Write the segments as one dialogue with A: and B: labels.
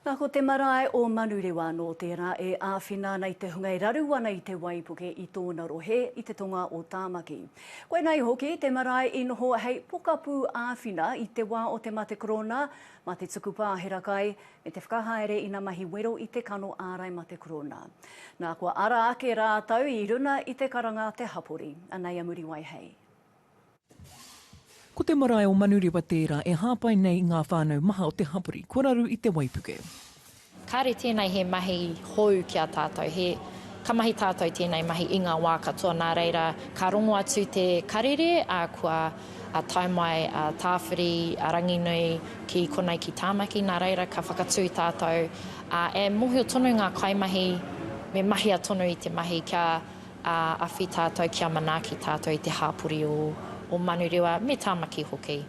A: Na ko te marae o Manurewa no tera e awhina ana i te hunga e raru ana i te waipuke i tona rohe i te tonga o Tamaki. Koinei hoki te marae i noho hei pokapu awhina i te wa o te mate korona ma te tuku pahera kai me te whakahaere ina mahi wero i te kano arai mate korona. Na kua ara ake ratou i runa i te karanga te hapori. Anei a Muriwai hei.
B: Ko te marae o Manurewa tērā e hāpai nei i ngā whānau maha o te hapori kua raru i te waipuke. Kāre
C: tēnei he mahi hou ki a tātou, he, ka mahi tātou tēnei mahi i ngā wā katoa, nā reira, ka rongo atu te karere, ā, kua tae mai a Tāwhiri, a Ranginui ki konei ki Tāmaki, nā reira, ka whakatū tātou, ā, e mōhio tonu ngā kaimahi, me mahia tonu i te mahi kia Ā, awhi tātou kia manaaki tātou i te hāpori o, o Manurewa, me Tāmaki hoki.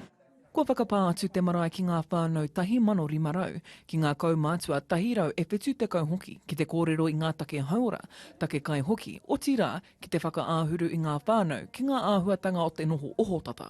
C: Kua whakapā
B: atu te marae ki ngā whānau tahi mano rima rau, ki ngā kaumātua tahi rau e whitu tekau hoki, ki te kōrero i ngā take hauora, take kai hoki, otirā, ki te whakaāhuru i ngā whānau ki ngā āhuatanga o te noho ohotata.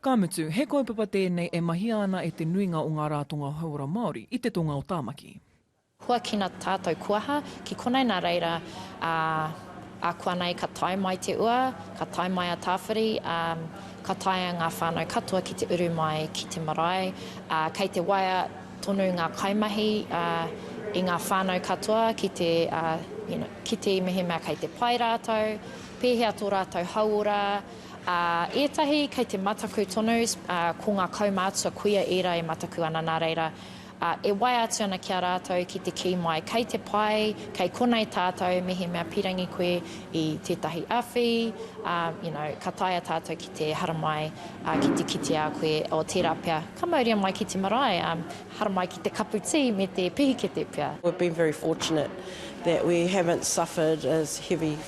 D: Ka mutu,
B: he kaupapa tēnei e mahia ana e te nuinga o ngā rātonga hauora Māori i te tonga o Tāmaki. Huakina
C: tātou kuaha ki konei nā reira, ā, ākuanei ka tae mai te ua, ka tae mai a Tāwhiri, ā, ka taea ngā whānau katoa ki te uru mai ki te marae, ā, kei te waea tonu ngā kaimahi, ā, i ngā whānau katoa ki te, ā, you know, kite i mehemea kei te pai rātou, pēhea tō rātou hauora, Ā, ētahi kei te mataku tonu, ā, ko ngā kaumātua kuia ērā e mataku ana, nā reira, ā, e waea atu ana ki a rātou ki te kī mai, Kei te pai, kei konei tātou, mehemea pīrangi koe i tētahi awhi, ā, you know, ka taea tātou ki te haramai, ā, ki te kite a koe, o tērā pea, ka mauria mai ki te marae, ā, haramai ki te kapu tī me te pihikete pea. We've been very fortunate
D: that we haven't suffered as heavy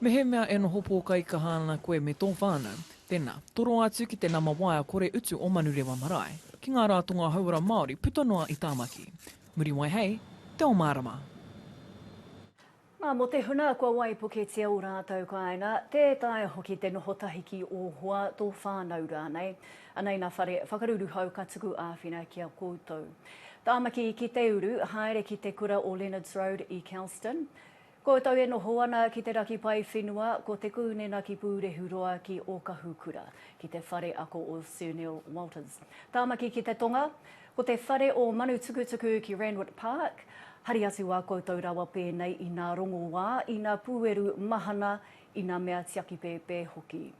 D: Mehemea
B: e noho pōkaikaha ana koe me tō whānau, tēnā, toro atu ki te nama waea kore utu o Manurewa Marae, ki ngā rātonga hauora Māori puta noa i Tāmaki. Muriwai hei Te Ao Mārama!
A: Nā, mō te huna kua waipuketia ō rātou kāinga, tē taea hoki te noho tahi ki ō hoa, tō whānau rānei. Anei nā whare whakaruruhau ka tuku āwhina ki a koutou. Tāmaki ki te uru, haere ki te kura o Leonards Road i Kelston. Koutou e noho ana ki te raki pae whenua, ko Te Kūnena ki Pūrehuroa ki Okahukura, ki te whare ako o Sir Neil Walters. Tāmaki ki te tonga, ko te whare o Manutukutuku ki Randwick Park. Hari atu a koutou rawa pēnei inā rongoā, inā pūeru mahana, inā mea tiaki pēpē hoki.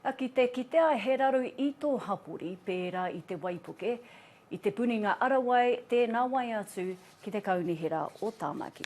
A: Na, ki te kitea he raru i tō hapori pērā i te waipuke, i Te Puninga Arawai tēnā wai atu ki te Kaunihera o Tāmaki.